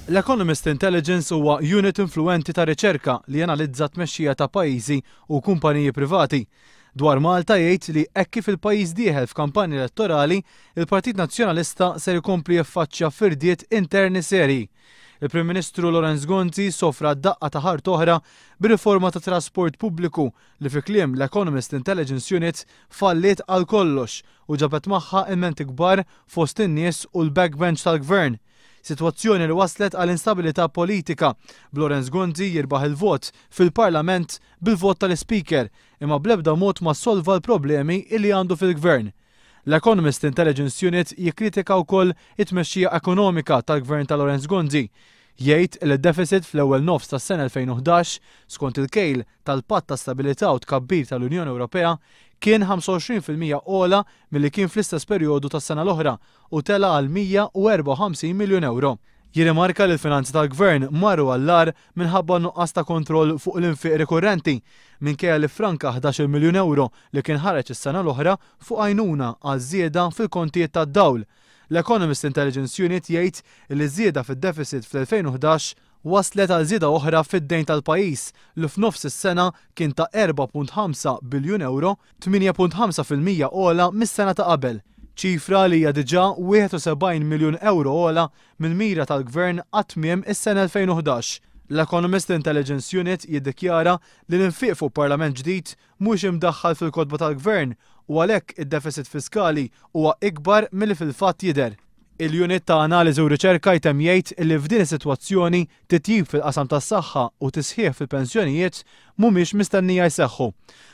L-Economist Intelligence huwa unit influwenti ta' riċerka li janalizza t-tmexxija ta' pajjiżi u kumpaniji privati. Dwar Malta jgħid li hekk kif il-pajjiż dieħel f'kampanja elettorali, il-Partit Nazzjonalista ser ikompli jiffaċċja firdiet interni serji. Il-Prim Ministru Lawrence Gonzi sofra daqqa ta' ħarta oħra bir-riforma tat-trasport pubbliku li fi kliem l-Economist Intelligence Unit falliet għal kollox u ġabet magħha ilmenti kbar fost in-nies u l-backbench tal-Gvern. Sitwazzjoni li wasslet għal instabilità politika, b'Lawrence Gonzi jirbaħ il-vot fil-Parlament bil-vot tal-Ispeaker imma bl-ebda mod ma ssolva l-problemi li għandu fil-Gvern. L-Economist Intelligence Unit jikkritika wkoll it-tmexxija ekonomika tal-Gvern ta' Lawrence Gonzi, jgħid li d-defiċit fl-ewwel nofs tas-sena 2011, skont il-kejl tal-Patt ta' Stabilità u Tkabbir tal-Unjoni Ewropea, kien 25 fil-mija ogħla milli kien fl-istess perjodu tas-sena l-oħra u tela' għal 154 miljun ewro. Jirrimarka li l-finanzi tal-Gvern marru għall-agħar minħabba n-nuqqas ta' kontroll fuq l-infiq rikurrenti, minkejja li ffranka ħdax-il miljun ewro li kien ħareġ is-sena l-oħra fuq għajnuna għaż-żieda fil-kontijiet tad-dawl, L-Economist Intelligence Unit jgħid li ż-żieda fid-defiċit fl-2011 wasslet għal żieda oħra fid-dejn tal-pajjiż li f'nofs is-sena kien ta' 4.5 biljun ewro, 8.5 fil-mija ogħla mis-sena ta' qabel, ċifra li hija diġà 71 miljun ewro ogħla mill-mira tal-Gvern għad tmiem is-sena 2011. L-Economist Intelligence Unit jiddikjara li l-infiq fuq Parlament ġdid mhux imdaħħal fil-kotba tal-Gvern u għalhekk id-defisit fiskali huwa ikbar milli fil-fatt jidher. Il-Unit ta' Analiżi u Riċerka jtemm jgħid li f'din is-sitwazzjoni, titjib fil-qasam tas-saħħa u tisħiħ fil-pensjonijiet mhumiex mistennija jseħħu.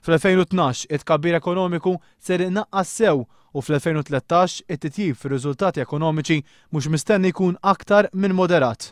Fl-2012, it-tkabbir ekonomiku ser inaqqas sew u fl-2013, it-titjib fir-riżultati ekonomiċi mhux mistenni jkun aktar minn moderat.